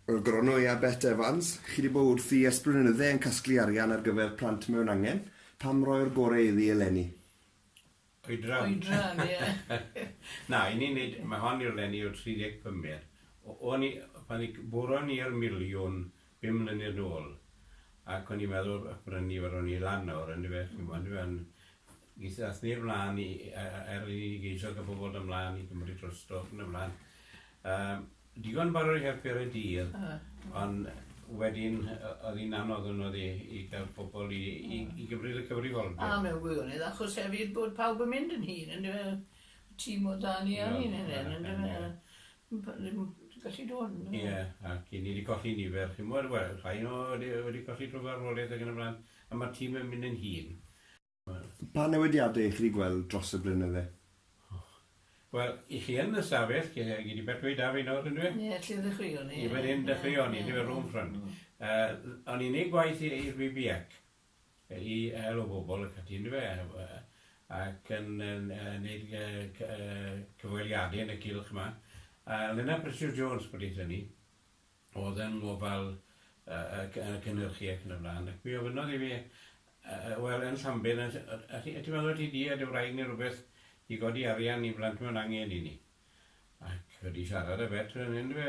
Wel, Gronw, ia, Bet Evans, chi 'di bod wrthi ers blynydde yn casglu arian ar gyfer plant mewn angen, pam roi'r gore iddi eleni? Oedran. Oedran, ie. Na, i ni neud, ma' hon i'r leni o 35 mil. O- o'n i, pan i- buron ni'r miliwn Pum mlynedd nôl ac o'n i'n meddwl y brynu fe ro'n i lan nawr yndyfe chi'mo' yndyfe on' geith ath neb mlan i i- yy yy er i ni geisio ca'l pobol do' mlan i gymryd drosto ac yn y flan yym digon yn barod i helpu ar y dydd on' wedyn yy o'dd 'i'n anodd on' o'dd 'i i ga'l pobol i i i gymryd y cyfrifoldeb. A mewn gwirionedd achos hefyd bod pawb yn mynd yn hŷn yndyfe? Y tîm o dan ni a ni'n hŷn yndyfe? Gallu do yn do. Ie ac i ni di colli nifer ch'mod wel rhai o ni wedi colli trwy farwolaeth ag yn y flan a ma'r tîm yn mynd yn hŷn. Pa newidiade i chi di gweld dros y blynydde? Wel i chi yn y stafell lle gei di becwi da fi nawr yndyfe? Ie lle ddechreuon ni. Ie fan hyn dechreuon ni yndyfe rownd front yy o'n i'n neud gwaith i'r BBH i hel y bobl ac ati yndyfe ac yn neud cyfweliade yn y cylch 'ma a Lena Precious Jones pryd hynny o'dd yn ngofal y cynyrchu ac yn y bla'n ac mi ofynnodd i fi wel yn Llambed yt ti'n meddwl ti 'di a dy wraig neu rwbeth i godi arian i blant mewn angen i ni ac wedi siarad â fe eto yndyfe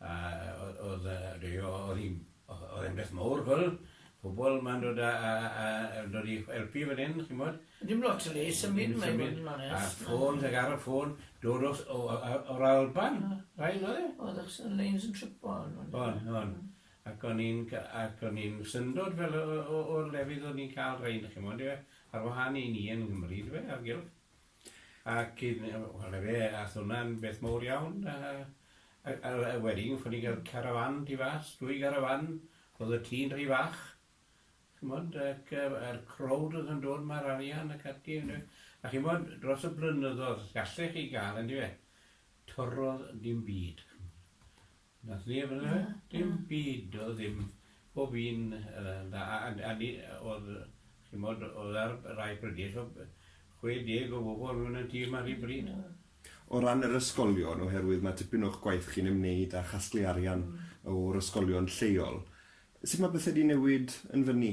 A oedd y rei o oedd hi'n oedd e'n beth mowr gwel pobol ma'n dod a a a a dod i helpu fan hyn chi'mod. Dim lot o le i symud mae'n bod yn onest. A ffôn ag ar y ffôn dod o o yy o'r Alban raid oedd e? Oedd achos y leins yn tripo on' on'. O'n o'n ac o'n i'n ca- ac o'n i'n syndod fel o o o o'r lefydd o'n i'n ca'l rhein chi'mod yfe ar wahân i ni yn Nghymru dyfe ar gylch. Ac yn yy wel 'na fe ath hwnna'n beth mowr iawn a a a a wedyn fo' ni'n ga'l carafán tu fas, dwy garafán, o'dd y tŷ'n rhy fach, ch'mod, ac yy a'r crowd o'dd yn dod 'ma'r arian ac ati ynde, a ch'mod dros y blynyddodd gallech chi ga'l yndyfe, torrodd dim byd. Nath neb yna fe? Na. Dim byd do'dd ddim pob un yy na a- a- a- ni- yy o'dd chi'mod o'dd ar rai pryder so b- chwe deg o bobol mewn y tîm ar un bryd. Ie. O ran yr ysgolion oherwydd ma' tipyn o'ch gwaith chi'n ymwneud â chasglu arian o'r ysgolion lleol sut ma' pethe 'di newid yn fynny?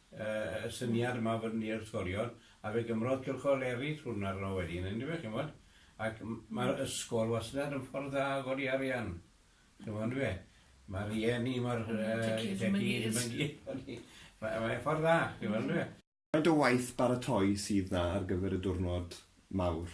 y syniad yma o fod yn neu'r ysgolion, a fe gymrodd cylchol eraill hwn arno wedyn yndyfe, ch'mod, ac m- ma'r ysgol wastad yn ffordd dda o godi arian, ch'mod yndyfe, ma' rieni, ma'r yy... Ond y tŷ gyd ddim yn gyd. Ma'n gyd o'n i, ma' mae e'n ffordd dda, chi'n weld yndyfe? Faint o waith baratoi sydd 'na ar gyfer y diwrnod mawr?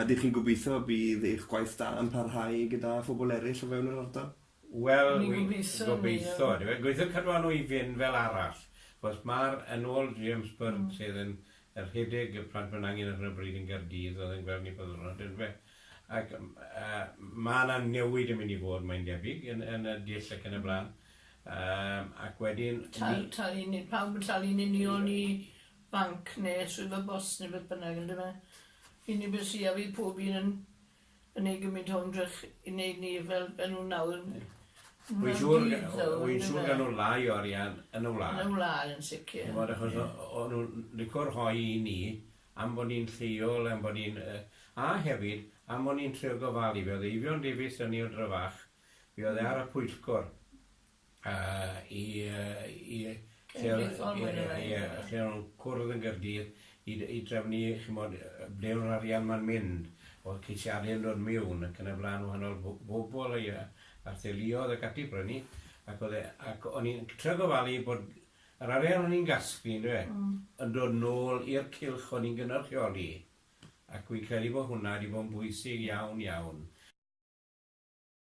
Ydych chi'n gobeithio y bydd eich gwaith da yn parhau gyda phobl eraill o fewn yr ardal? Wel, gobeithio ydyw e. Gobeithio cadw â nhw i fynd fel arall. Achos mae'r, yn ôl James Bird sydd yn rhedeg y Plant Mewn Angen ar hyn o bryd yn Gaerdydd, oedd yn gweld ni pob dwrnod yn dyfe, ac mae 'na newid yn mynd i fod, mae'n debyg, yn yn y dull ac yn y blaen. Yym ac wedyn... Talu nid pawb yn talu'n union i banc ne swyddfa bost ne beth bynnag ynde fe? Fi'n credu bydd siap i pob un yn yn neud gymint o ymdrech i neud ni fel fel nhw nawr. Ie. Wy'n siŵr g- o- o- wy'n siŵr gawn nhw lai o arian yn y wlad. Yn y wlad yn sicir. Chi'n gwbod achos o- o- o'n nhw'n lico rhoi i ni am bo' ni'n lleol am bo' ni'n yy a hefyd am o'n ni'n trio gofalu fe o'dd Eifion Davies 'da ni o Dryfach fe o'dd e ar y pwyllgor Yy i yy i yy Cenedlaethol mwy ne' lai. Ie ie ie lle o'n nw'n cwrdd yn Gaerdydd i d- i drefnu chi'mod yy yy ble o'dd yr arian 'ma'n mynd, o'dd ceisiade'n dod miwn ac yn y bla'n wahanol bo- bobol a ia a'r theuluodd ac ati prynu ac o'dd e ac o'n i'n c- trio gofalu bod yr arian o'n i'n gasglu on'd yfe? Hmm. Yn dod nôl i'r cylch o'n i'n gynyrchioli ac wi'n credu bo' hwnna 'di bo' yn bwysig iawn iawn.